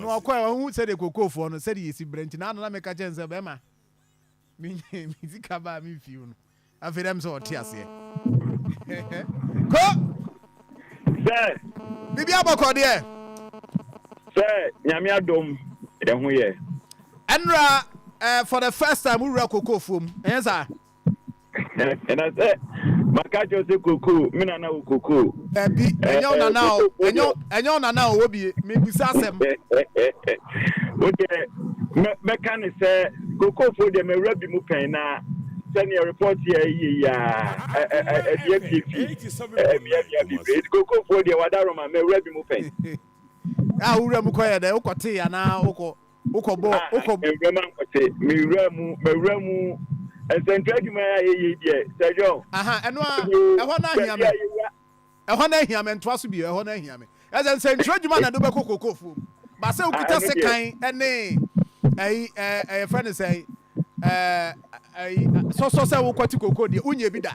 Na ɔkɔe, ɔanhu sɛdeɛ kokofoɔ no, sɛdeɛ yɛsi brɛ nti, na ana na meka kyerɛ no sɛ, Bɛrima, menyaa me sika baa me fie o no. Afei na ɛm sɛ ɔte aseɛ. Ko! Sɛ. Biribiara bɔkɔ deɛ? Sɛ Nyame adom, yɛho yɛ. Ɛnora, eh, for the first time, wo wura kokofoɔ mu, ɛnyɛ saa? ɛna sɛ maka kyerɛ sɛ kokoo me nana wɔ kokoo. dabi ɛnyɛ wo nana o ɛnyɛ wo nana o wɔ bie mebisa asɛm. wo deɛ mɛka ne sɛ kokoofo deɛ mawura bi mu pɛn na sɛnea report yɛ yie yi a ɛdeɛ fiefie ɛbia bia bebree nti kokoofo deɛ wada roma mawura bi mu pɛn. a wura mu kɔyɛ dɛ wokɔtee anaa wokɔ wokɔ bɔ ah, wokɔ. mframa nkɔte mewura mu mawura mu nsɛntu adwuma a yɛyɛ deɛ sɛdwɔ. aha ɛno a ɛhɔ no ahia me ɛhɔ no ahia me ntoa so bio ɛhɔ no ahia me ɛsɛ nsɛntu adwuma na ɛde wobɛkɔ kokofuom ba sɛ wokita sekan ɛne ɛyi ɛyɛ fɛ ne sɛ ɛyi sɔsɔ sɛ wokɔte koko deɛ wonyɛ bi da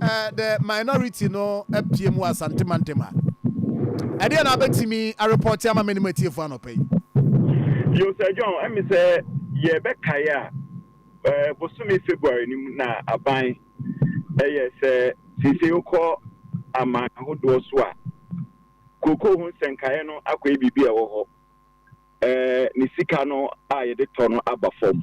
The minority no apuem wɔ Asante mantam ha. Ɛdeɛn na wobɛtumi arepɔte ama me ne m'atiefoɔ anɔpa yi? Yo, Sir John, ɛme sɛ yɛbɛkae a, ɛɛ bosome February no mu na aban ɛyɛ sɛ seesei wokɔ aman ahodoɔ so a, kookoo ho nsɛnkaeɛ no akɔyɛ biribi a ɛwɔ hɔ, ɛɛ ne sika no a yɛde tɔ no aba fam.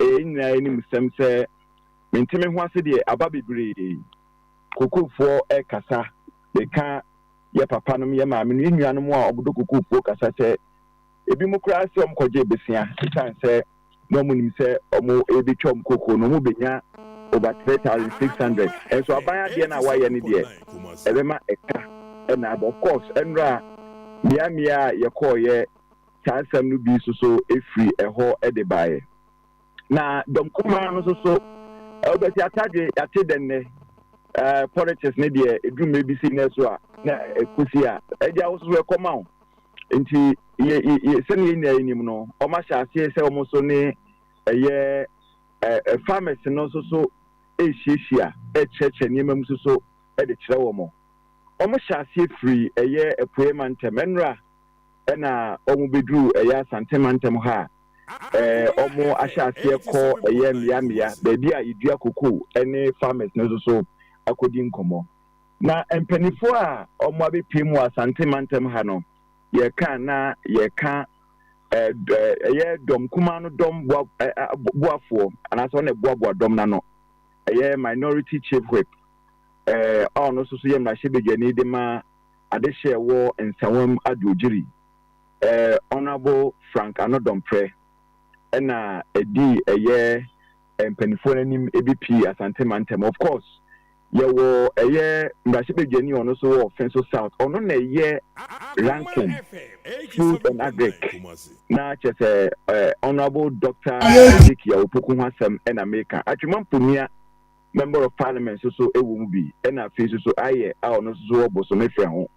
Eyi nyinaa anim sɛm sɛ mente me ho ase deɛ aba bebree kokofoɔ rekasa meka yɛ papa nom yɛ maame nom yɛ nua nom a wɔdɔ kokofoɔ kasa sɛ ebi mo koraa sɛ wɔn kɔgye besia esan sɛ na wɔn nim sɛ wɔn rebɛtwa wɔn koko no wɔn bɛnya over three thousand six hundred nso aban adeɛ no a wɔayɛ no deɛ ɛbɛma ɛka ɛna aba of course ɛnora mmea mmea a yɛkɔɔ yɛ saa nsɛm no bi nso so firi ɛhɔ de baeɛ. Na dɔm kumaa no nso so, wobɛte atadwe, yɛate dɛ nnɛ, eh, politics ne deɛ, ɛduru mmerɛ bi sei na ɛso a, na ɛkɔsi a, agya wo nso so ɛkɔma wo. Nti, yɛ, yɛ, yɛ, sɛdeɛ yɛn nyinaa yɛnim no, wɔn ahyɛ aseɛ sɛ wɔn nso ne ɛyɛ eh, eh, farmers no nso so ɛrehyiahyia, ɛrekyerɛkyerɛ nneɛma mu nso so de kyerɛ wɔn. Wɔhyɛ aseɛ firi ɛyɛ apueɛ mantam, ɛnora ɛna wɔn bɛduru ɛyɛ Asante mantam ha a, ɛɛ wɔn ahyɛ aseɛ kɔ ɛyɛ mmea mmea baabi a yɛdua kokoo ɛne farmers no nso so akɔdi nkɔmmɔ. Na mpanifoɔ a wɔn abɛpie mu wɔ Asante mantam ha no, yɛka na yɛka ɛɛ ɛyɛ dɔm kumaa no dɔm boa ɛɛ boafoɔ anaasɛ wɔn na ɛboaboa dɔm no ano ɛyɛ minority chief whip ɛɛ a ɔno nso so yɛ mmarahyɛbadwani de ma adehye a ɛwɔ Nsawam Adwodwiri, eh, Honourable Frank Anodɔmprɛ na ɛdii ɛyɛ eh, mpanimfoɔ no anim bi pii Asante Mantam. Of course, yɛwɔ ɛyɛ mmarahyɛbadwani ɔno so wɔ Finso South, ɔno na ɛyɛ ranking Food and Agric na kyɛ sɛ eh, Honourable Doctor Isaac Yawopoku ho asɛm na meka. Atwema Mponia Member of Parliament nso so wɔ mu bi, ɛna afei nso so Ayɛ a ɔno nso so wɔ Bosome frɛ ho.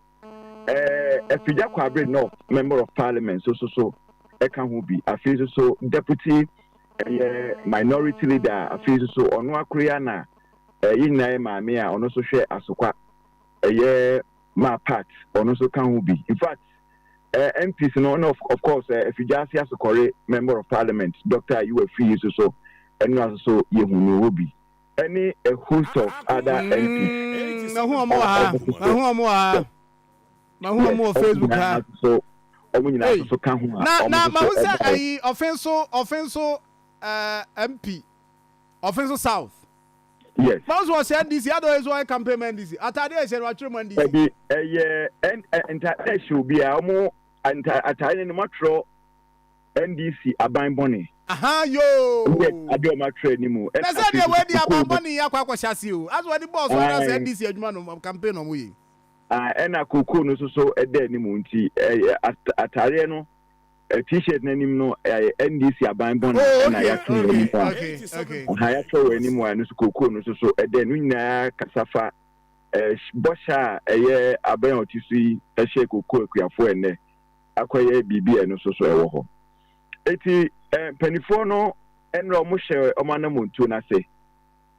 Eh, Afigya Kwabre North Member of Parliament nso so so ka ho bi, afei nso so Deputy ɛyɛ Minority Leader a afei nso so ɔno akoro yi ara na eh, yɛn nyinaa yɛ maame a ɔno nso hwɛ Asokwa ɛyɛ maa Pat, ɔno nso ka ho bi. In fact, eh, MPs no na of, of course, eh, Afigya ase asokɔre Member of Parliament, Dɔkta Ayew Afiri yi nso so, ɛno na nso so yɛhu no hɔ bi, ɛne a host of other MPs Mm, mahu wɔn wɔ a ha. wɔn nso so, Mahu wɔn wɔ ha. yes, Mahu wɔn wɔ wɔn Facebook nyinaa ha. nso so, wɔn nyinaa nso Ei, so ka ho a na wɔn na nso so mahu sɛ baeɛ. ayi ɔfen so ɔfen so eh, MP ɔfen so South. Yes. Báwo nso ɔsɛ NDC? Adɔn nso ɔyɛ campaign ma NDC. Ataade a ɛhyɛ no atwerɛ mu NDC. Ɛbi ɛyɛ ɛn ɛ ntaade ɛhyɛ obi a ɔmo nta ataade no mo atwerɛ NDC aban bɔne. Ahaa yoo. Ɛyɛ ade ɔmo atwerɛ anim o. Na sɛ deɛ wɔadi aban bɔne yi akɔ akɔhyɛ ase o. Asɛ wɔde bɔɔl so anaasɛ NDC adwuma no campaign na ɔmo yɛ yi. Ɛna kookoo no nso so ɛda anim nti ɛyɛ ataadeɛ no. eh, t-shirt n'anim no eh, NDC aban bɔn oh, okay, na yɛatwe okay, anim a okay, okay. aha yɛatwerɛ wɔ anim a ɛno so kokoo no so so ɛdɛ no nyinaa kasa fa eh, bɔhyɛ a ɛyɛ abɛn a ɔte so yi ɛhyɛ kokoo akuafoɔ ɛnɛ akɔyɛ biribi a ɛno so so ɛwɔ hɔ eti eh, mpanimfoɔ no ɛnura wɔn hyɛ wɔn anamontuo no ase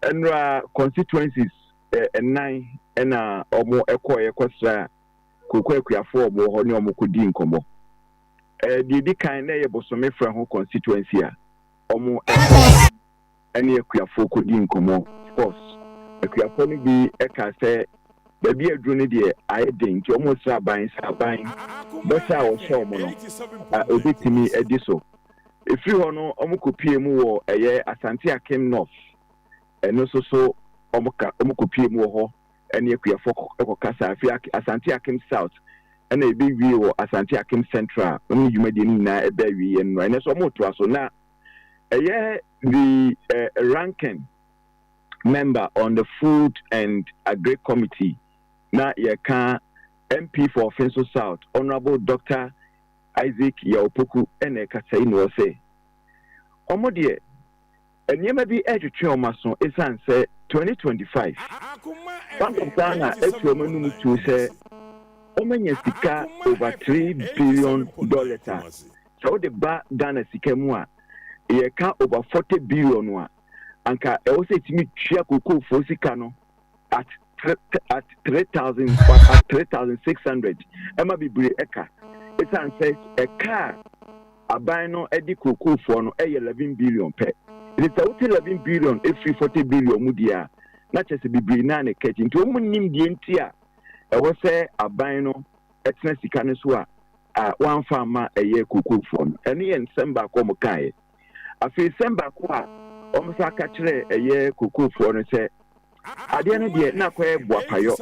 ɛnura constituencies ɛnan eh, ɛna wɔn ɛkɔɔ yɛkɔsra Kooko akuafoɔ a wɔwɔ hɔ ne wɔn kɔdii nkɔmmɔ. Ɛɛ deɛ ɛdi kan na ɛyɛ bosome frɛ ho constituency a wɔkɔ ɛne akuafoɔ kɔdii nkɔmmɔ. Of course akuafoɔ no bi ɛkaa sɛ baabi a aduru no deɛ ayɛ den nti wɔn resrɛ aban sɛ aban bɔ sɛ a wɔhyɛ wɔn no ɛbɛtumi adi so. Ɛfiri hɔ no wɔn kɔ pie mu wɔ ɛyɛ Asante Akim North ɛno nso so wɔn kɔ pie mu wɔ hɔ ne akuafoɔ kɔ kɔkasaa firi Ak Asante Akim South ɛna ɛbɛwiee wɔ Asante Akim Central a wɔn dwumadie no nyinaa ɛbɛ awieɛ no na ɛnɛ nso wɔretoa so na ɛyɛ the uh, ranking member on the food and agri committee na yɛka MP for Offinso South Honourable Dr. Isaac Yawopoku ɛna ɛkasa yi na ɔsɛ wɔn deɛ Nneɛma bi retwetwe wɔn aso esiane sɛ 2025 Bank of Ghana atu wɔn anum tuo sɛ wɔanya sika over three billion dollars a sɛ wode ba Ghana sika mu a yɛka over forty billion a anka ɛwɔ sɛ ɛtumi tua kookoofoɔ sika no at three at three thousand at three thousand six hundred ɛma bebree ɛka esan sɛ ɛka a aban no ɛde kurokurofoɔ no ɛyɛ eleven billion pɛ nti sɛ wote eleven billion efiri forty billion mu deɛ a na kyerɛ sɛ bebree naa na ɛka akyi nti wɔn mu nim deɛ nti a ɛwɔ sɛ aban no ɛtena sika no so a a wɔamfa ama ɛyɛ kurokurofoɔ no ɛno yɛ nsɛm baako a wɔn kaeɛ. Afei sɛm baako a wɔsan ka kyerɛɛ ɛyɛ kokofoɔ no sɛ, Adeɛ no deɛ na akɔyɛ boapayɔ.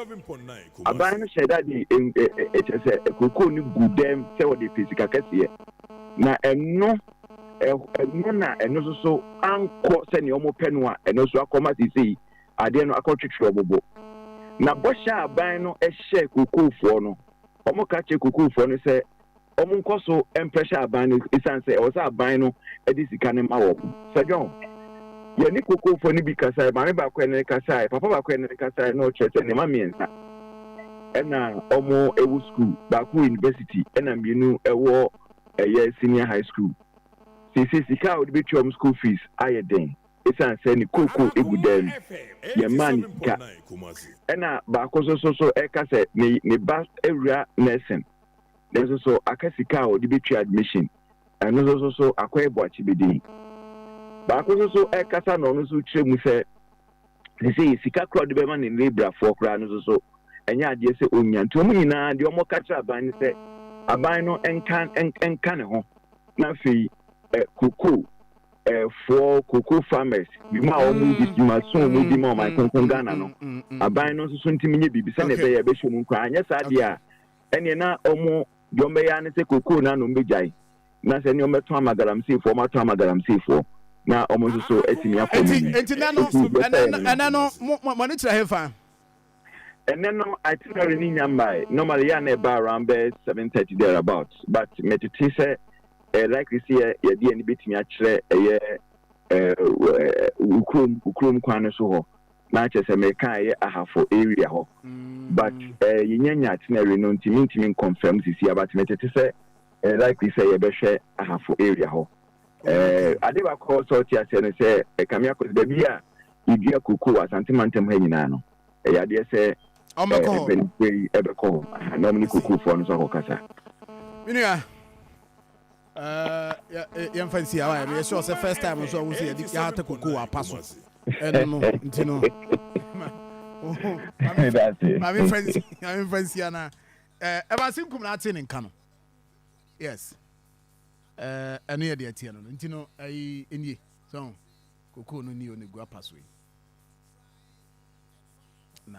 Aban no hyɛɛ da de en, ɛ, ɛ, ɛ, kyerɛ sɛ, kokoo no guu dɛm sɛ wɔde pɛ sika kɛseɛ, na ɛno, ɛ, ɛno na ɛno nso so ankɔ sɛdeɛ wɔpɛ no a, ɛno nso akɔma seesei adeɛ no akɔtwetwe wɔn bo. Na bɔhyɛ a aban no hyɛɛ kokofoɔ no, wɔka kyerɛ kokofoɔ no sɛ, wɔnkɔ so mprɛhyɛ aban no esiane sɛ ɛwɔ sɛ aban no de sika no ma wɔn. Sir John, Yɛne kokofoɔ no bi kasaeɛ, maame baako a ɛne no kasaeɛ, papa baako a ɛne no kasaeɛ, na ɔkyerɛ sɛ ne mma mmiɛnsa na wɔwɔ sukuu, baako wɔ university, ɛna mmienu wɔ ɛyɛ senior high school. Seesei sika a wɔde bɛtua wɔn school fees ayɛ den esiane sɛ ne kooko gu dan mu. Yɛmmaa ne sika. Ɛna baako nso so so ɛka sɛ ne ne ba awura nursing. nanso so aka sika a ɔde bɛtua admission? Ɛno nso so so akɔyɛ boakyibede? Baako nso so ɛkasa na ɔno nso kyerɛ mu sɛ sesei sika kora ɔde bɛma ne nnebrafoɔ koraa no nso so ɛnyɛ adeɛ sɛ ɔnya nti wɔn nyinaa deɛ wɔka kyerɛ aban no sɛ aban no nka nka ne ho na afei eh, koko eh, foɔ koko farmers bi mu a wɔn mm. di ma so wɔn mm, di ma wɔn mm, akonko ghana no aban no nso so ntumi nye biribi sɛnea ɛbɛyɛ ɛbɛhyɛ mu nkoraa anyɛ saa deɛ a ɛneɛ na wɔn deɛ wɔbɛyɛ ara ne sɛ kokoo no ano wɔbɛgyae, na sɛ ɛneɛ wɔbɛtɔn ama galamseyfoɔ, wɔatɔn ama galamseyfoɔ, na wɔn nso so atumi akɔ wɔn anim. Enti ɛnɛ no, ɛnɛ no, mo ani kyerɛ hefa? Ɛnɛ no, itinerary no nnya mmae, normally yɛ a na ɛba around bɛyɛ seven thirty there about, but metete sɛ ɛyɛ likely sɛ yɛde yɛn ani bɛtumi akyerɛ ɛyɛ wɔ kurom, kurom kwan no so hɔ. na kyerɛ sɛ meka a ɛyɛ Ahafo area hɔ but eh yɛnya nya itinerary no nti mentumi nconfirm sisi a but metete sɛ ɛyɛ likely sɛ yɛbɛhwɛ Ahafo area hɔ eh ade baako a ɛwɔ sɛ ɔte aseɛ no sɛ eh Kame Akos baabi a yɛdua cocoa wɔ Asante mantam ha nyinaa no ɛyɛ adeɛ sɛ eh mpanyinfoɔ yi ɛbɛkɔ hɔ na wɔne cocoa foɔ no nso akɔkasa. Me nua. yɛmfa nsi awa yɛ meyɛ sure sɛ first time nso ɔwo sɛ yɛde yɛata koko wɔ apa so ɛno no nti no mamemfa nsi anaa ɛba se nkum na ate ne nka no yes ɛno yɛ deɛ teɛ no no nti no ɛyi nie so koko no ni ɔne gu apa so yi na